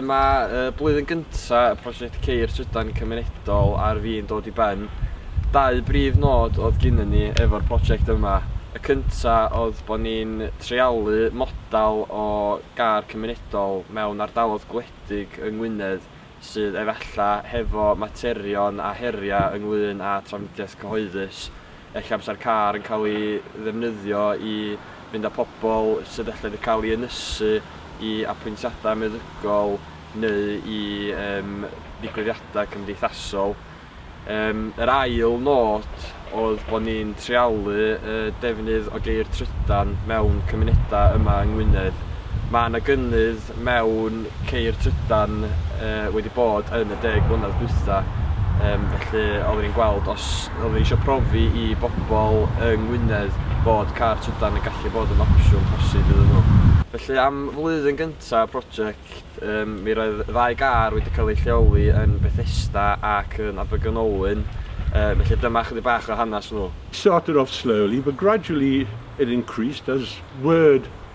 Dyma y blwyddyn gyntaf y prosiect Ceir Trydan Cymunedol ar fin dod i ben. Dau brif nod oedd gynnon ni efo'r prosiect yma. Y cyntaf oedd bod ni'n treialu model o gar cymunedol mewn ardaloedd gwledig yng Ngwynedd sydd efallai hefo materion a heriau ynglŷn â trafnidiaeth cyhoeddus. Ella amser car yn cael ei ddefnyddio i fynd â pobl sydd ella wedi cael ei ynysu i apwyntiadau meddygol neu i yym ddigwyddiadau cymdeithasol. Yym yr ail nod oedd bod ni'n treialu y defnydd o geir trydan mewn cymunedau yma yng Ngwynedd. Mae 'na gynnydd mewn ceir trydan yy wedi bod yn y deg mlynedd dwytha yym felly oddwn i'n gweld os oddwn ni isio profi i bobl yng Ngwynedd bod car trydan yn gallu bod yn opsiwn posib iddyn nhw. Felly am flwyddyn gynta y project yym mi roedd ddau gar wedi cael eu lleoli yn Bethesda ac yn Abergynolwyn yy felly dyma ychydig bach o hanes nhw. It started off slowly but gradually it increased as word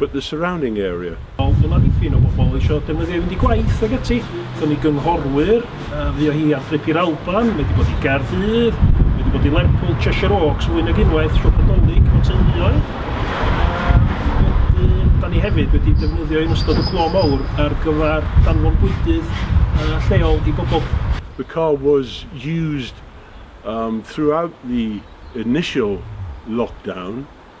but the surrounding area. Wel, dyma ddipyn o bobl eisiau defnyddio i fynd i gwaith ac ati. Dyna ni gynghorwyr, fuo hi ar drip i'r Alban, mae wedi bod i Gaerdydd, mae wedi bod i Lerpwl, Cheshire Oaks, fwy nag unwaith, siop adolyg, o teuluoedd. Wedyn, da ni hefyd wedi defnyddio yn ystod y clo mawr ar gyfer danfon bwydydd lleol i bobl. The car was used um, throughout the initial lockdown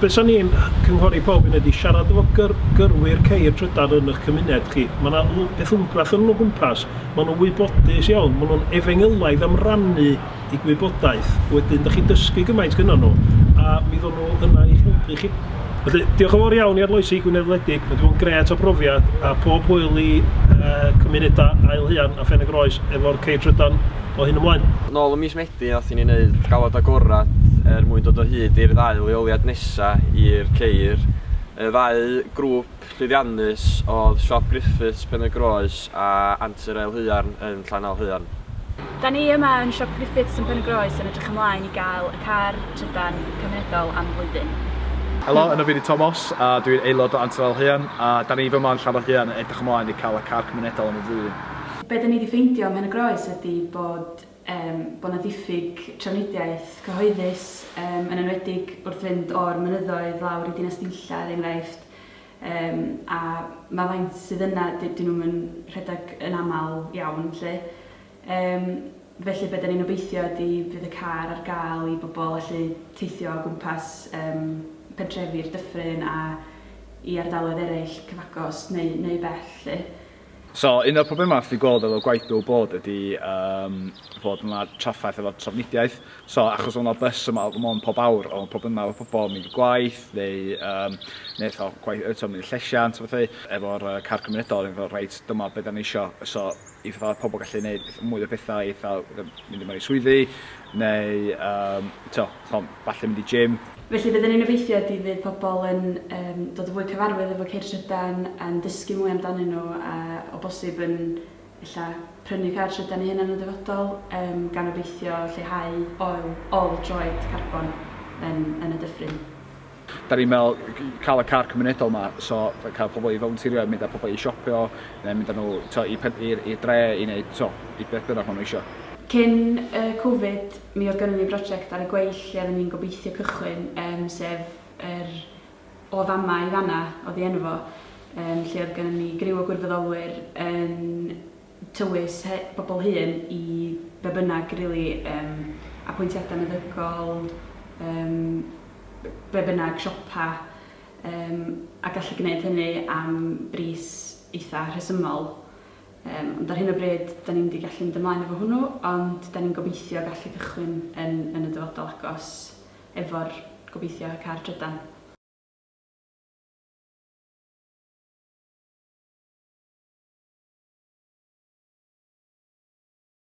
Be sa ni'n cynghori pob un ydi siarad efo gyr- gyrwyr ceir trydan yn 'ych cymuned chi. Ma' 'na l- beth wmbrath yn 'yn o gwmpas. Ma' nhw'n wybodus iawn, ma' nhw'n efengylaidd am rannu 'u gwybodaeth. Wedyn 'dach chi'n dysgu gymaint gynnon nhw, a mi ddown nhw yna i'ch helpu chi. Felly, diolch yn fawr iawn i Arloesi Gwynedd wledig, ma' 'di bod yn grêt o brofiad, a pob hwyl i yy cymuneda Ael Huan a Phen-y-groes efo'r ceir trydan o hyn ymlaen. Nôl ym mis Medi. Be wnaethon ni wneud? Galwad agored er mwyn dod o hyd i'r ddau leoliad nesa' i'r ceir. Y ddau grŵp llwyddiannus oedd Siop Griffiths, Pen-y-groes a Antur Ael Haearn yn Llanelhaearn. Da ni yma yn Siop Griffiths yn Pen-y-groes yn edrych ymlaen i gael y car trydan cymunedol am flwyddyn. Helo, yno fi 'di Tomos a dwi'n aelod o Antur Ael Haearn a da ni fyma yn Llanelhaearn yn edrych ymlaen i cael y car cymunedol am y flwyddyn. Be da ni 'di ffeindio ym Mhen-y-groes ydi bod Ym, bod 'na ddiffyg trafnidiaeth cyhoeddus, ym, yn enwedig wrth fynd o'r mynyddoedd lawr i Dinas Dinlla, er enghraifft, ym, a ma' faint sydd yna, dy- dyn nhw'm yn rhedeg yn aml iawn 'lly. Ym, felly be' 'dan ni'n obeithio ydi bydd y car ar ga'l i bobl allu teithio o gwmpas, ym, pentrefi'r Dyffryn a i ardaloedd eraill cyfagos neu neu bell 'lly. So, un o'r problemau fi gweld efo gwaith Bill Board ydy um, fod yna traffaeth efo trafnidiaeth. So, achos o'na bus yma o Gymon pob awr, o'n problemau efo pobl yn mynd i gwaith, neu, um, neu tho, gwaith, eto mynd i llesiant, a bethau, efo'r uh, car cymunedol, yn fel, reit, dyma beth da ni isio. So, i fatha pobl gallu gwneud mwy o bethau, eitha, mynd i mewn i swyddi, neu, um, to, Falle mynd i gym. Felly bydd yn un obeithiau ydy fydd pobl yn um, dod yn fwy cyfarwydd efo ceir trydan, yn dysgu mwy amdanyn nhw a o bosib yn illa prynu car trydan i hynna'n y dyfodol, um, gan obeithio lleihau oil, ol droed carbon yn, yn y dyffryn. Da ni'n meddwl cael y car cymunedol yma, so cael pobl i volunteerio, mynd â pobl i siopio, neu mynd â nhw to, i, i, i dre, i wneud to, i beth bynnag maen nhw eisiau. Cyn y Covid, Mi oedd gynnon ni broject ar y gweill lle oedden ni'n gobeithio cychwyn, yym, sef yr O Fama i Fanna oedd ei enw fo, yym, lle oedd gynnon ni griw o gwirfoddolwyr yn tywys he- bobl hŷn i be' bynnag rili, yym, apwyntiadau meddygol, yym, be' bynnag, siopa, yym, a gallu gwneud hynny am bris eitha' rhesymol. Yym, ond ar hyn o bryd, da ni'n mynd i gallu mynd ymlaen efo hwnnw, ond da ni'n gobeithio gallu cychwyn yn yn y dyfodol agos efo'r, gobeithio, y car trydan.